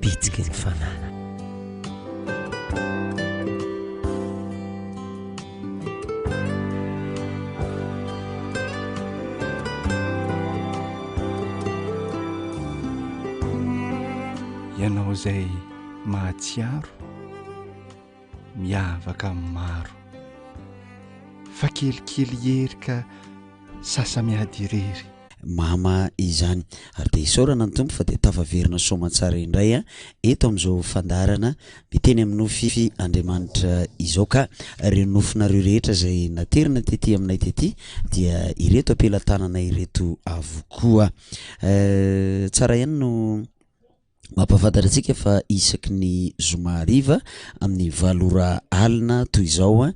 bitsiky ny fanahy. ianao izay mahatsiaro miavaka amin'ny maro fa kelikely hery ka sasa-miady irery mama izany ary dia isaorana ny tompo fa dia tafaverina soamantsara indray a eto amin'izao fandarana miteny amin'ny nofy andriamanitra izao ka ireo nofinareo rehetra izay naterina tety aminay tety dia ireto ampelatanana ireto avokoa tsara ihany no Mampahafantatra antsika fa isaky ny zoma hariva amin'ny valo ora alina toy izao eh,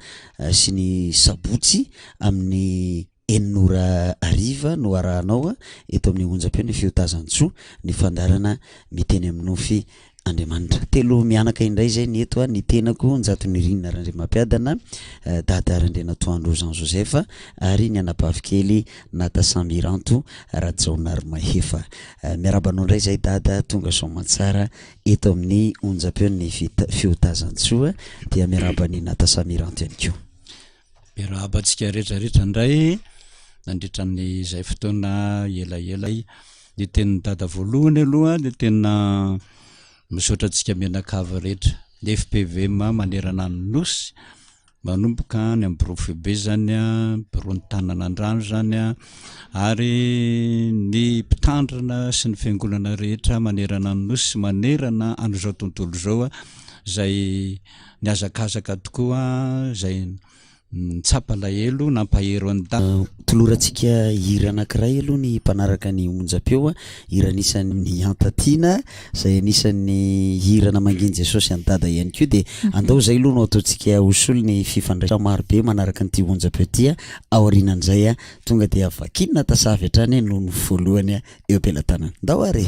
sy ny sabotsy amin'ny enina ora hariva no arahanao eh, eto amin'ny onjam-peo ny feo Tazantsoa ny fandaharana miteny amin'ny nofy Andriamanitra. Telo mianaka indray izay ny eto ah, ny tenako Njatonirinina Randriamampiadana, eh, Dada Randrianatoandro Jean Joseph ary ny anabavikely Nada Samiranto Rajaonarimahefa. Miarahaba anao indray izay Dada, tonga soa aman-tsara eto amin'ny onjam-peo ny fita- fiotazan-tsoa dia miarahaba an'i Nada Samiranto ihany koa. Miarahaba antsika rehetrarehetra indray nandritra ny izay fotoana elaela zay. Ny tenin'i Dada voalohany aloha dia tena misaotra antsika mianakavy rehetra, ny FPVM manerana ny Nosy Manomboka any amin'ny birao foibe izany, biraon'ny tanana an-drano izany ary ny mpitandrina sy ny fiangonana rehetra manerana ny Nosy sy manerana an'izao tontolo izao izay nihazakazaka tokoa, izay nitsapa alahelo, nampahery an'i Dago. Tolorantsika hira anankiray aloha ny mpanaraka ny onjam-peo, hira anisan'ny Antatiana Izay anisan'ny hira namangian'i Jesosy an'i Dada ihany koa dia andao izay aloha no ataontsika ho solo ny fifandraisana marobe manaraka an'ity onja petit a, aorianan'izay a tonga dia vakinina tasavy hatrany noho ny voalohany eo am-pelatanana. Ndao ary e!